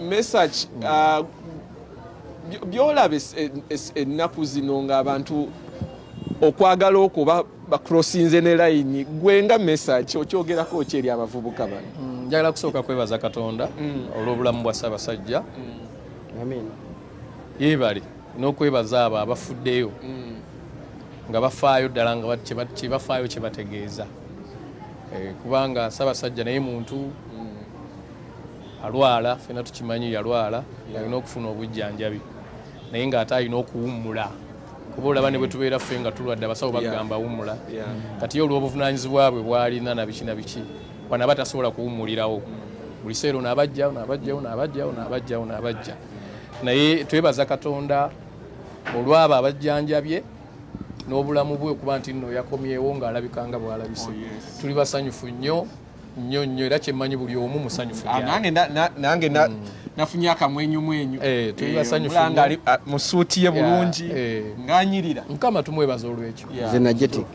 mesach mm. uh, byolaba ennaku zino ngaabantu okwagala okwo bakrosinze ne layini gwe nga mesach okyogerako ki eri abavubuka bano mm, njagala kusooka kwebaza katonda mm. olw'obulamu bwa ssabasajja yebale n'okwebaza abo abafuddeyo mm. nga bafaayo ddala nga bafaayo kye bategeeza eh, kubanga Ssaabasajja naye muntu mm. alwala fena tukimanyi yalwala alina okufuna obujjanjabi naye ng'ate alina okuwummula kuba olaba ne bwe tubeera ffe nga tulwadde abasawo bagamba wummula kati ye olw'obuvunaanyizibwa bwe bwalina na biki na biki wanaba tasobola kuwummulirawo mm. buli seero naabajja naabajjawo naabajjawo naabajjawo naabajja naye twebaza katonda olwabo abajjanjabye n'obulamu bwe okuba nti nno yakomyewo ng'alabika nga bw'alabise oh, tuli basanyufu nnyo nnyo nnyo era kyemmanyi buli omu musanyufu ah, nange mm. nafunye akamwenyumwenyu eh, tuli eh, basanyufu ah, mu suuti ye bulungi eh. ng'anyirira mukama tumwebaza olw'ekyo nze najetik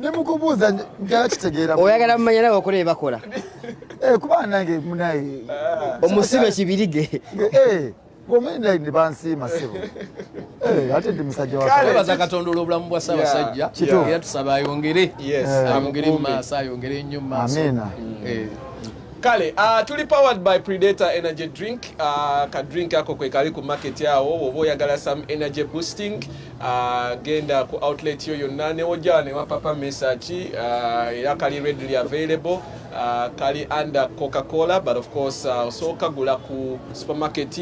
nemukubuuza njala kitegeera oyagala mumanya nawe okola ebakola eh, kuba nange munaye eh, omusibe kibirige eh, bansiima sebo ate ndi musajja wabaza katonda olwobulamu bwa ssabasajja era tusaba ayongere ayongere mumaaso ayongere nnyo mumaaso kale uh, tuli powered by predator energy drink uh, ka drink ako kwekali ku market awo oba oyagala some energy boosting agenda ku outlet yo yonna newoja ne wapapa message uh, era kali readily available uh, kali under coca cola but of course uh, osooka gula ku supermarket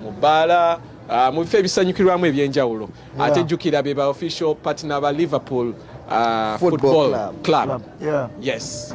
mu bbaala uh, mu bifo ebisanyukirwamu ebyenjawulo yeah. ate jjukira be ba official partner ba liverpool uh, football, football club, club. club. Yeah. yes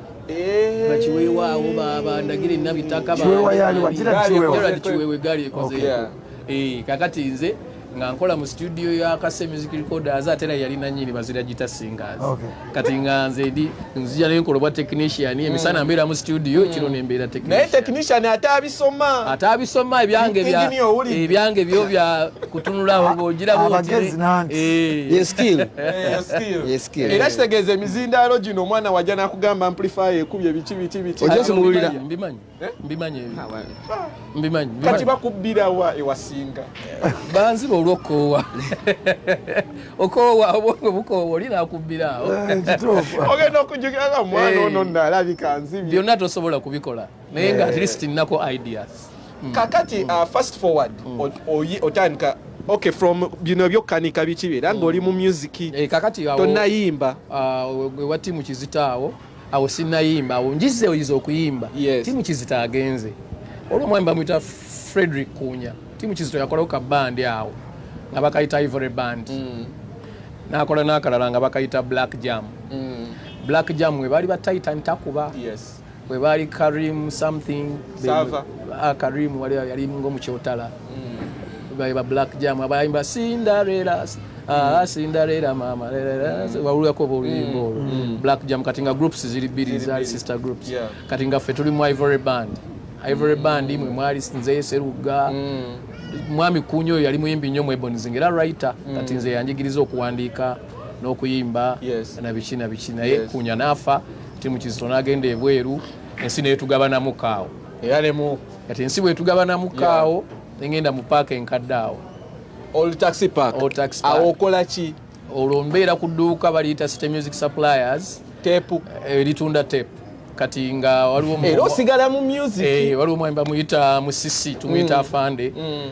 bakiweewa awo babandagire nabitaka kiwewe gali ekoze eh, kakati nze nga nkola mu studio ya kase music recorders ate era yali nanyini bazira gita singers kati nga nze ndi nzija ne nkola bwa technician mm. emisana mbeera mu studio mm. kino ne mbeera technician naye technician ate abisoma ate abisoma ebyange bya ebyange byo bya kutunula awo bojira bo eh. skill eh, skill era kitegeeza emizindaalo gino omwana wajja nakugamba amplifier ekubye biki biki biki ojakimuwulira mbimanyi eh? mbimanyi mbimanyi kati bakubbira wa ewasinga banziba olwokoowa okoowa obwongo bukoowa oli nakubbira awo eh, ogenda okujukira nga omwana eh. ono nalabika nzibye byonna tosobola kubikola naye nga at least nnako ideas mm. kakati uh, fast forward mm. otandika okay from bino byokkanika biki beera nga oli mu music eh, kakati tonayimba uh, ewa tiimu kizitaawo awo sinayimba awo njize oyiza okuyimba tiimu kizita agenze olwo omwami bamwita frederick kunya tiimu kizito yakolawo ka bandi awo nga bakayita ivory band mm. nakola nakalala nga bakayita black jam black jam webaali batayita ntakuba yes. bwe baali karim something Sava. Ah, karim wali yali ngomukyotala mm. ba black jam abayimba cinderella ah, mm. cinderella mama mm. wawulirako oba oluyimba olwo black jam kati nga groups ziri bbiri zali sister groups kati nga ffe tuli mu ivory band ivory band mwe mwali nze seruga mwami kunya oyo yali muyimbi nnyo mwebonizi ngaera writer kati nze yanjigiriza okuwandiika n'okuyimba nabiki nabiki naye kunya naafa timu kizito n'agenda ebweru ensi netugabanamu kaawo era nemu kati ensi bwetugabanamu kaawo nengenda mu paaka enkadde awo awo okola ki olwo mbeera ku dduuka baliyita city music suppliers tepu eritunda eh, tepu kati nga waliwo osigala mu music eh, waliwo mwemba muyita musisi tumuyita mm. afande mm.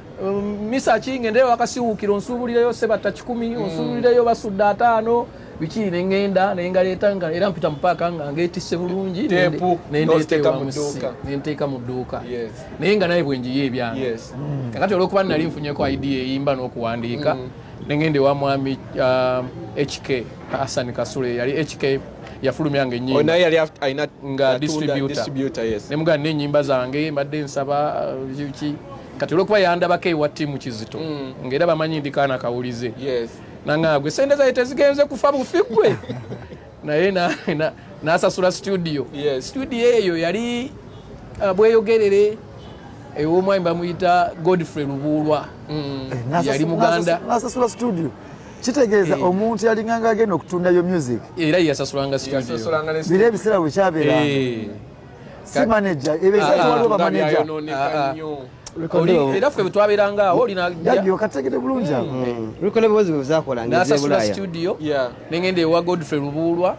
Um, misa ki ngendeyo wakasiwuukira onsuubulireyo sebatta kikumi mm. onsuubulireyo basudde ataano biki nengenda nengaleeta nga era mpita mupaaka nga ngetisse bulungi nenteeka mu dduuka naye nga naye bwenjiyo ebyange mm. kakati olwokuba nali nfunyeko idea eyimba n'okuwandiika mm. nengenda ewa mwami um, hk hassan kasule yali hk yafulumya nga enyimba nga distributa nemugaa nenyimba zange mbadde nsaba uh, ki kati olwokuba yandabako ewa tiimu kizito mm. ngaera bamanyi ndikaana kawulize nangagwe sente zaye tezigenze kufa bufi gwe naye nasasula studio studio eyo yali uh, bweyogerere ewomwami bamuyita godfrey lubuulwa mm. eh, yali muganda nasasula studio kitegeeza eh. omuntu yalinganga agenda okutundayo music era yasasulanga studio biro ebiseera bwekyabeera eh. si manager ebeza ah, waliwo ba manager ah, ah, era ffe bwetwaberanga awo olinaokategede bulungi nasasula mm. studio nengenda ewa godfrey lubuulwa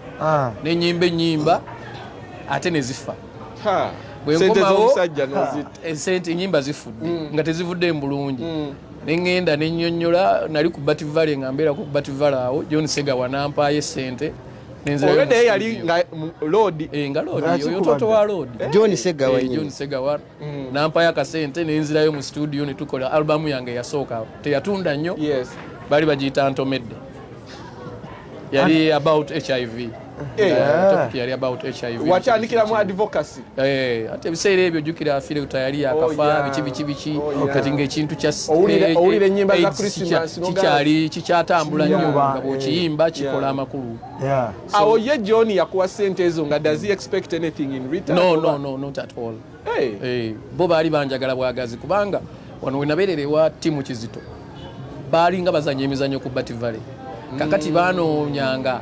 nenyimba enyimba ate nezifa bwenkomawo esente eh, enyimba zifudde mm. nga tezivudde mbulungi mm. neŋŋenda ne nnyonnyola nali ku bativale nga mbeerako ku bativale awo john sega wanampaayo essente Already yeye ali nga load eh nga load yo toto wa load eh? John Segawa eh, nyinyi John Segawa mm. nampa ya kasente ne nzira yo mu studio ne tukola album yange ya soka te yatunda nyo yes bali bajita Antomedde yali about HIV eh. yeah. topic yali about HIV wachandikira mu advocacy Eh, ate ebiseera ebyo jukira afire tayali akafa oh, biki biki biki oh, kati ngaekintu kyakikyali kikyatambula nnyo nga bwokiyimba eh, kikola amakulu awo ye john yakuwa sente ezo nga does he expect anything in return no no no not at all eh. bo baali banjagala bwagazi kubanga wano wenabeerera ewa timu kizito baalinga bazanya emizannyo ku Bat Valley kakati mm. banoonyanga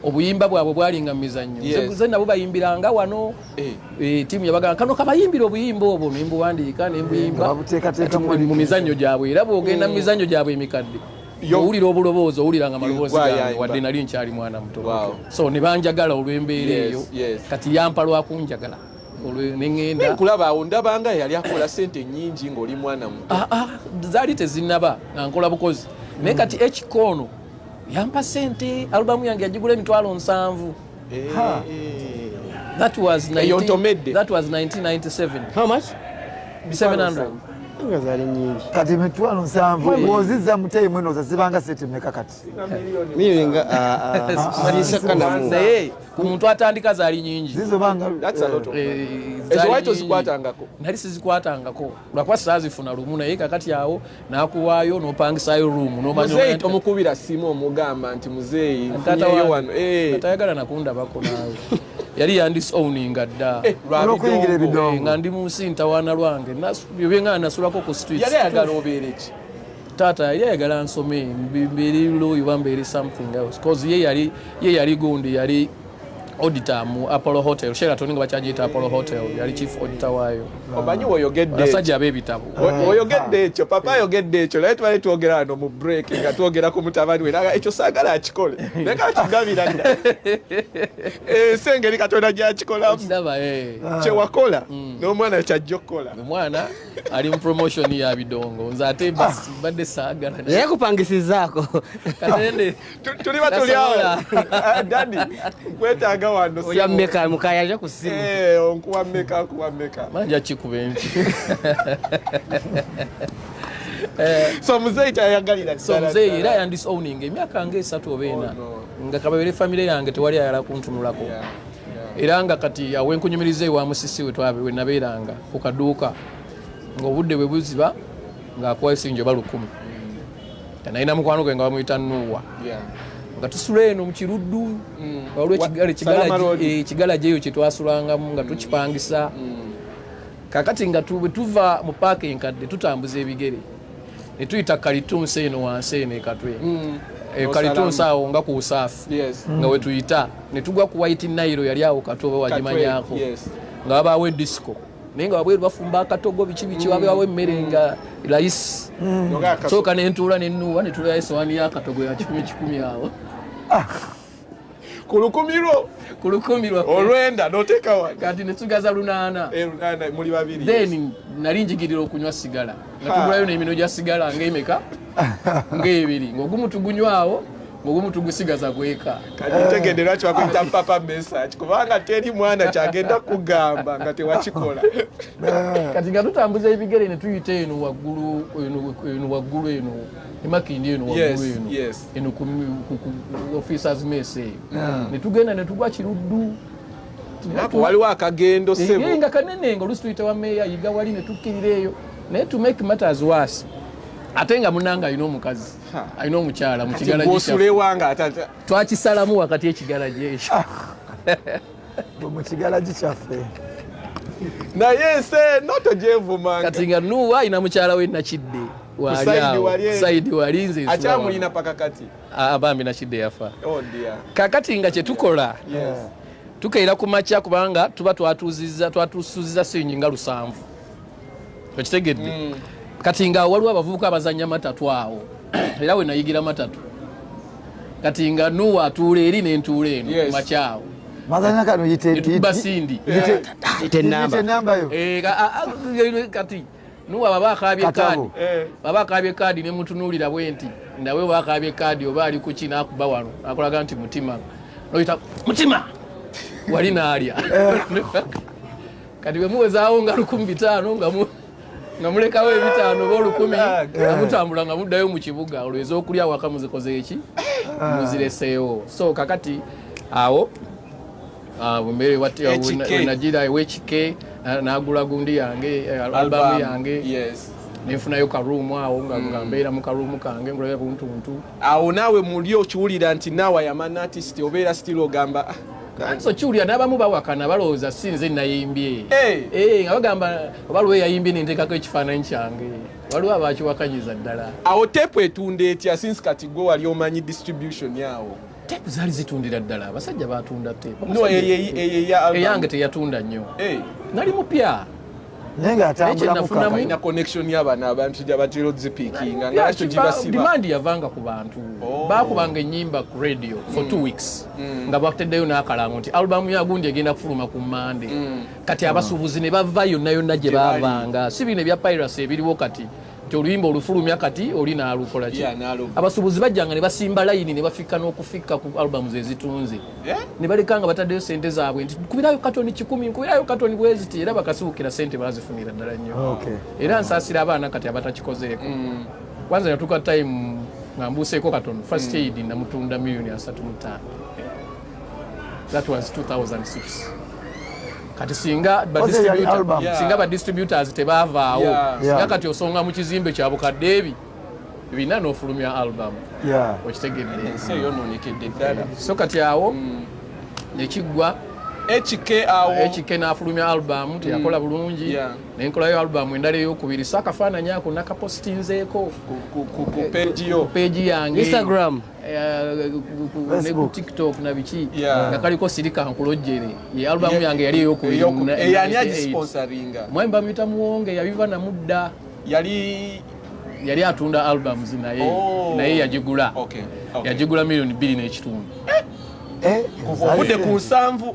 obuyimba bwabwe bwalinga mu mizannyo ze nabo bayimbiranga wano eh. Eh, tiimu yabagamba kano kabayimbira obuyimba obwo nembuwandiika nembuyimba eh, mu mizannyo gyabwe era bwogenda mu mizannyo gyabwe emikadde owulira obuloboozi owulira nga maloboozi gange wadde nali nkyali mwana muto so ne banjagala olw'embeera eyo kati yampa lwakunjagala nkulaba awo ndabanga yali akola sente nyingi ngaoli mwana mu ah, ah, zaali tezinaba nga nkola bukozi naye kati ekikoono yampa sente alubamu yange yagigula emitwalo nsanvu eh, eh. that was 1997 kati emitwalo nsanvu oziza muteyimwenoza zibanga sente meka kati miringa sisekanamu naye ku muntu atandika zaali nyingi nali sizikwatangako lwakuba sazifuna lumu naye kakati awo nakuwaayo nopangisayo rumu nomanyomukubira simu omugamba nti muzeeyi wano eh. tayagala nakundabako nawe yali yandisowninga dda eh, eh, nga ndi munsi ntawaana lwange byobyengana nasulako ku street taata yali ayagala nsome mbeeri looyi oba mbeeri something else bcause ye yali ye yali gundi yali auditor mu apollo hotel sheraton nga bakyagiyita apollo hotel yali chief auditor waayo omanyi woyogeddeasajja ab'ebitabo woyogedde ekyo papa ayogedde ekyo naye tubale twogera wano mu break nga twogera ku mutabani we naga ekyo saagala akikole naye kakigabira ensi eh, engeri katonda gyakikolamu eh. kyewakola mm. n'omwana kyajja okukola omwana ali mu promotion ya bidongo nze ate basi ah. badde saagala naye kupangisizaako katende tuli batuli awo dadi nkwetaaga wano oya meka mukaya aja ku simu eh onkuwa meka kuwa meka manja kikuba enki eh. so muzeeyi kyayagalira so muzeeyi era yandis owning emyaka nga esatu oba ena oh, nga kababere famire yange tewali ayala kuntunulako yeah. era nga kati awenkunyumiriza ewa musisi we nabeeranga ku kaduuka ng'obudde bwe buziba ng'akuwa esinjo oba lukumi nalina mukwano gwe nga bamuyita nuuwa nga tusula eno mu kiruddu mm. waliwo ekigala eh, gyeyo kyetwasulangamu nga mm. tukipangisa mm. kakati nga tuva mu paaka enkadde tutambuza ebigere ne tuyita kalitunsi eno wansi eno ekatwe mm. e, kalitunsi awo nga ku usaafu nga mm. wetuyita ne tugwa ku white nairo yali awo katwe oba wagimanyako nga wabaawo edisiko naye nga wabweru bafumba akatogo biki biki mm. wabewawo emmere mm. nga layisi mm. soka nentuula nenuwa netulayo esowaani yakatogo ya kikumi kikumi awo ah. ku lukumi lwo ku lukumi lwa olwenda noteeka wa kati ne tugaza lunaana eh, lunaana muli babiri then nali njigirira okunywa sigala nga tugulayo n'emino gya sigala ng'emeka ng'ebiri ng'ogumu tugunywawo mugumu tugusigaza kweka kati ntegedde lwaki wakuyita papa message kubanga teri mwana kyagenda kugamba nga tewakikola kati nga tutambuza ebigere ne tuyita eno waggulu eno waggulu eno emakindi eno waggulu eno eno ku officers mess eyo hmm. ne tugenda ne tugwa kiruddu waliwo akagendo eh, sebo nga kanene nga olusi tuyita wa meeya yiga wali ne tukkirira eyo naye to make matters worse ate nga munanga alina omukazi alina omukyala mu kigalagitwakisalamu wakati ekigalaji ekyo ah. mu kigalagi kyaffe naye ensi eno togyevumanga kati nga nuwa alina mukyala we nakidde saidi wali nze akyamulina paka kati ah, bambi nakidde yafa oh, kakati nga kyetukola tukeera ku makya kubanga tuba twatusuziza sinyi nga lusanvu okitegedde mm. kati nga waliwo abavubuka abazanya matatu awo era we nayigira matatu kati nga nuwa atuula eri nentuula eno yes. makyawo mazanya kano yitebasindi kati nuwa baba akabye kaadi eh. baba akabye kaadi nemutunuulira bwe nti nawe wakabye kaadi oba ali kuki nakuba wano akolaga nti mutima noyita mutima wali naalya eh. kati bwe muwezaawo nga lukumi bitaano nga mu nga mulekawo ebitaano oba olukumi ah, nga mutambula nga muddayo mu kibuga olwo ez'okulya waka muzikoze eki ah. muzireseewo so kakati awo ah, bumere bwnagira ewekike nagula gundi yange eh, albamu yange nenfunayo karuumu awo nga mm. mbeera mu karuumu kange ngulayo kuntuntu awo naawe muli okiwulira nti naawe ayamanna atisiti obeera sitiri ogamba ah, kanti okiwulira n'abamu bawakana balowooza si nze nayimbye eh. Eh, nga bagamba oba lwe yayimbye nenteekako ekifaananyi kyange waliwo abakiwakanyiza ddala awo teepu etunda etya sinsi kati gwe wali omanyi distribution awo teepu zaali zitundira ddala abasajja batunda teepu eyange teyatunda nnyo eh. nali mupya naye nga atambulamukkalina connection y'abaana abantu gyabatera ozipiikinga nga nakyo gibasiba demand yavanga ku bantu oh. baakubanga ennyimba ku radio for two mm. weeks mm. nga bateddeyo n'akalango nti alubamu ya gundi egenda kufuluma ku mande mm. kati abasuubuzi ne bava yonna yonna gye baavanga si bino ebya piracy ebiriwo kati nti oluyimba olufulumya kati oli nalukola ki abasuubuzi bajjanga ne basimba layini ne bafikka n'okufikka ku albamu ze zitunze eh? ne baleka nga bataddeyo sente zaabwe nti kubirayo katoni kikumi nkubirayo katoni bweziti era bakasiwukira sente bazifunira ddala nnyo era nsaasira abaana kati abatakikozeeko mm. kwanza natuka time nga mbuuseeko katoni first mm. aid namutunda miliyoni asatu mutaano that was 2006 kati singa singa ba distributors tebavaawo yeah. singa kati osonga mu kizimbe kya bukadde ebi bina n'ofulumya album yeah. okitegedde ensi eyo nonekedde ddala so kati awo mm. nekiggwa ekike awo ekike n'afulumya album teyakola mm. bulungi yeah. nenkolayo album endala eyokubiri so akafaananyi ako nakapositinzeeko ku peegi yange Eh, ku tiktok na biki nga kaliko sirika nkulojjere ye albamu yange yali eyokuyani agisponsoringa mwami bamuyita muwonge yabiva namudda yali yali atunda albums naye oh. naye yagigula yagigula milioni bbiri n'ekitundu eh? Eh? ovudde ku nsanvu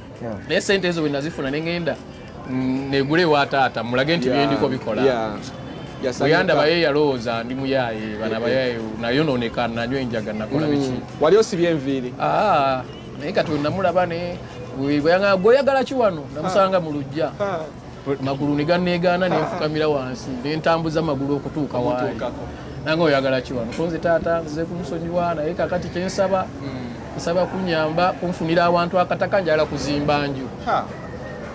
naye sente ezo bwenazifuna nengenda mm, negula ewa taata mulage nti byendiko bikola oyandaba ye yalowooza ndi muyaye bana bayaye nayononeka nanywa enjaga nakola mm. biki wali osibye enviiri ah, naye kati namulaba ne gweyagalaki wano namusanga ah. mu lujja ah. magulu ne ganneegaana ne nfukamira wansi ne ntambuza amagulu okutuuka waali nange oyagala ki wano konze taata nzize kumusonyiwa naye kakati kye nsaba hmm. nsaba kunyamba kunfunira awantu akataka njala kuzimba nju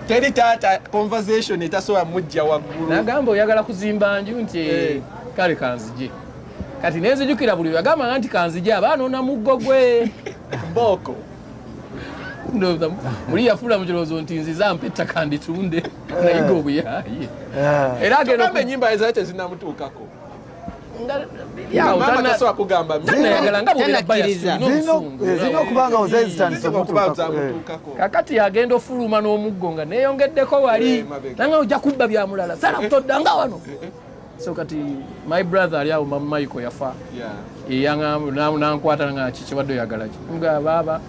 teri taata conversation etasobola mujja waggulu nagamba oyagala kuzimba nju nti eh. kale kanzije kati nenzijukira buli yagambanga nti kanzije abaana onamuggo gwe booko muli yafuula mu kirowoozo nti nziza mpa ettaka nditunde eh. nayiga obuyaaye eh. era agenda enyimba ezaa tezinamutuukako kakati agenda ofuluma n'omuggo nga neyongeddeko wali nanga ojja kubba byamulala sala kutoddanga wano so kati my brother ali awo mamu maiko yafa eyanankwata nga kikiwadde oyagalaki nga baaba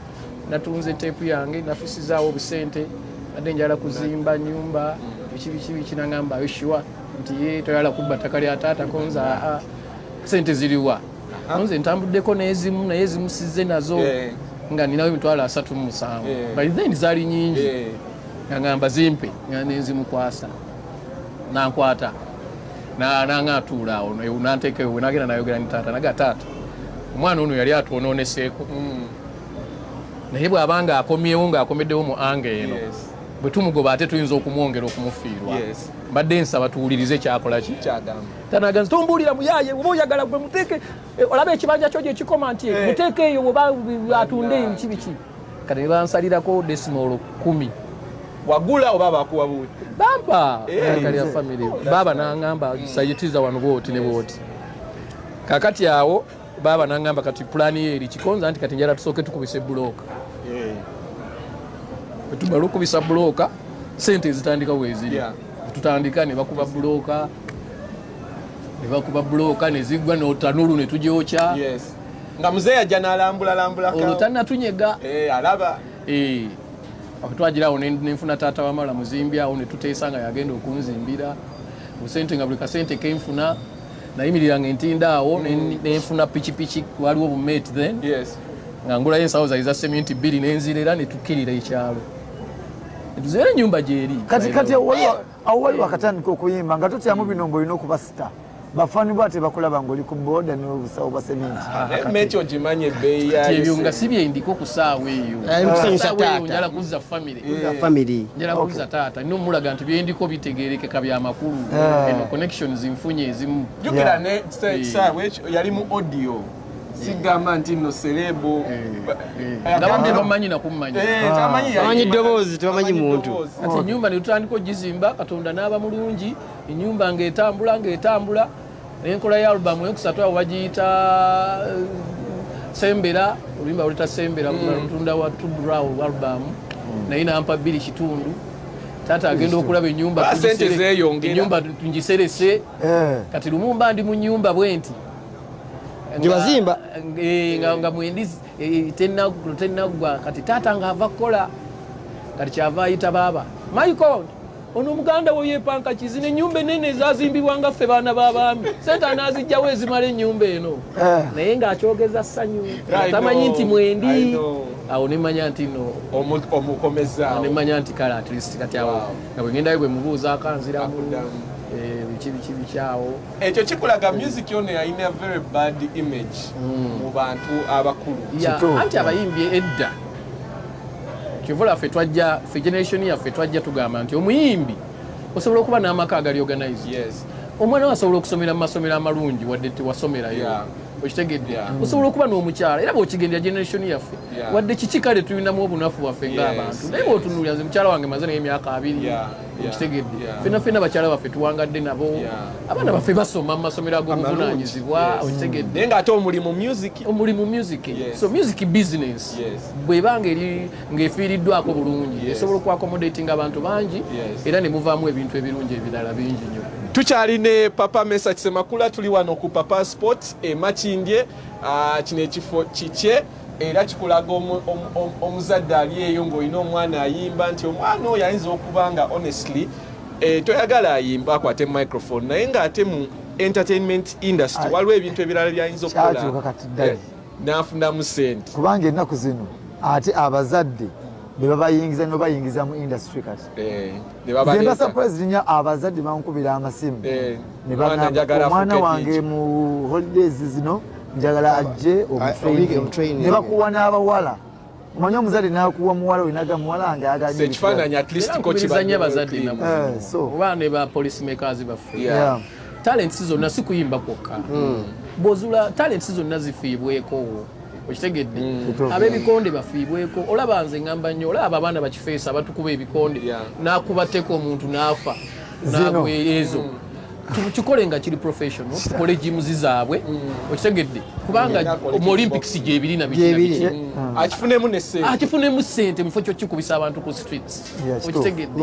natunze teepu yange nafusizaawo obusente nadde njala kuzimba nyumba biki biki biki nangamba yoshuwa nti ye toyala kubba ttaka lya taata konza aa sente ziriwa nze ntambuddeko nezimu naye ezimu sizze nazo nga ninawo emitwalo asatu mu musanvu by then zaali nyingi nangamba zimpe nga nenzimukwasa nankwata nanga atuula awo nanteeka ewe nagenda nayogera ni taata naga taata omwana ono yali atwononeseeko mm. naye bwabanga akomyewo ngaakomeddewo mu anga eno bwe tumugoba ate tuyinza okumwongera okumufiirwa mbadde nsaba tuwulirize kyakola ki tanaga nti tombuulira muyaye oba oyagala gwe muteeke eh, olaba ekibanja kyo gyekikoma nti eh. muteeke eyo oba atunde eyo kibiki kati nebansalirako desimolo kumi wagula oba bakuwa buwi bampa eh. kali ya family oh, baba nangamba mm. sayitiza wano bwoti ne bwoti kakati awo baba nangamba kati pulani ye eri kikonza nti kati njala tusooke tukubise bulooka eh. tumala okubisa bulooka sente ezitandika weziri tutandika ne bakuba bulooka ne bakuba bulooka ne ziggwa notanulu ne tugyokya nga mzee ajja nalambulalambulaka olwo tanatunyega eh, alaba eh, twagira awo nenfuna taata wamala muzimbi awo netuteesa nga yagenda okunzimbira busente nga buli kasente kenfuna nayimirira nga entinda awo mm. nenfuna pikipiki waliwo bumate then nga ngulayo ensawo zali za seminti bbiri nenzirera netukirira ekyalo tuzeera enyumba gyeri kati kati awo wali wakatandika okuyimba nga totyamu hmm. bino ngaolina okuba sita bafani bwa tebakulaba ngaoli ku boda nobusawo bwa semintiekyo ah, eh, gimanyi ebeyiyaebyo nga si byendiko ku saawa eyokusanyusataataala eh, kuzza famire eh. njala kuzza taata nina omulaga nti byendiko bitegerekeka byamakulu eno connections nfunye ezimu jukira ne saawa ekyo yali mu audio sigamba nti no serebu abantu eh, tebamanyi eh. nakummanya tamanyi ddoboozi tebamanyi muntu ati enyumba netutandika ogizimba katonda n'aba mulungi enyumba ngaetambula ngaetambula enkola ya alubamu enkusatu awo bagiyita eh, sembera oluyimba lweta sembera lutunda mm. wa tudraw alubamu mm. naye nampa bbiri kitundu taata agenda okulaba enyumba enyumba tungiserese kati lumumba ndi mu nyumba bwenti gyebazimba eh, nga mwendi eh, tenaggwa kati taata nga ava kukola kati kyava ayita baaba michael ono omuganda wo yepanka kizi nenyumba enene ezazimbibwa nga ffe baana babaami sente anazijjawo ezimala enyumba eno eh. naye ngaakyogeza sanyu tamanyi nti mwendi awo nemanya nti no omukomezanemanya nti kale atlist kati awo nga bwegendayo bwemubuuza akanziramu biki biki bikyawo ekyo kikulaga music ono yalina very bad image mm. mu bantu abakulu anti abayimbi edda kivula ffe twajja fe generation yaffe twajja tugamba nti omuyimbi osobola okuba n'amaka agali organized yes. omwana we asobola okusomera mu masomero amalungi wadde tewasomerayo yeah. okitegedde yeah. Mm. osobola okuba n'omukyala era bwekigendera generation yaffe yeah. wadde kiki kale tulinamu obunafu bwaffe ng'abantu yes. naye bwotunulira nze mukyala wange maze naye emyaka abiri yeah. okitegedde fena fena bakyala baffe tuwangadde nabo abaana baffe basoma mu masomero ag'obuvunanyizibwa okitegedde naye ngaate omulimu music omulimu music so music business bwebanga eri ng'efiiriddwako bulungi esobola okuakomodatinga abantu bangi era ne muvaamu ebintu ebirungi ebirala bingi nyo tukyali ne papa mesa kisemakula tuli wano ku papa sport emakindye ah, kino ekifo kikye era kikulaga omuzadde ali eyo ng'olina omwana ayimba nti omwana oyo ayinza okuba nga honestly eh, toyagala ayimba akwate microphone naye ng'ate mu entertainment industry waliwo ebintu ebirala byayinza okukola eh, n'afunamu sente kubanga ennaku zino ate abazadde bebabayingiza nobayingiza mu industry kati eh, zembasa president abazadde bankubira amasimu omwana wange mu holidays zino njagala ajje omunebakuwa n'abawala omanyi omuzadde nakuwa muwala oyo naga muwala wange agaoba ne ba police makers baffe talents zonna si kuyimba kwokka hmm. bwozula talents zonna zifiibwekowo okitegedde mm. abebikonde bafiibweko olaba nze ngamba nnyo olaba abaana bakifeesa abatukuba ebikonde nakubateeka omuntu naafa zino ezo mm. tukikole nga kiri professional tukole jimuzi zaabwe mm. okitegedde kubanga mm. mu olympics gyebiri nabiki mm. akifunemu sente mufo kyokikubisa abantu ku streets okitegedde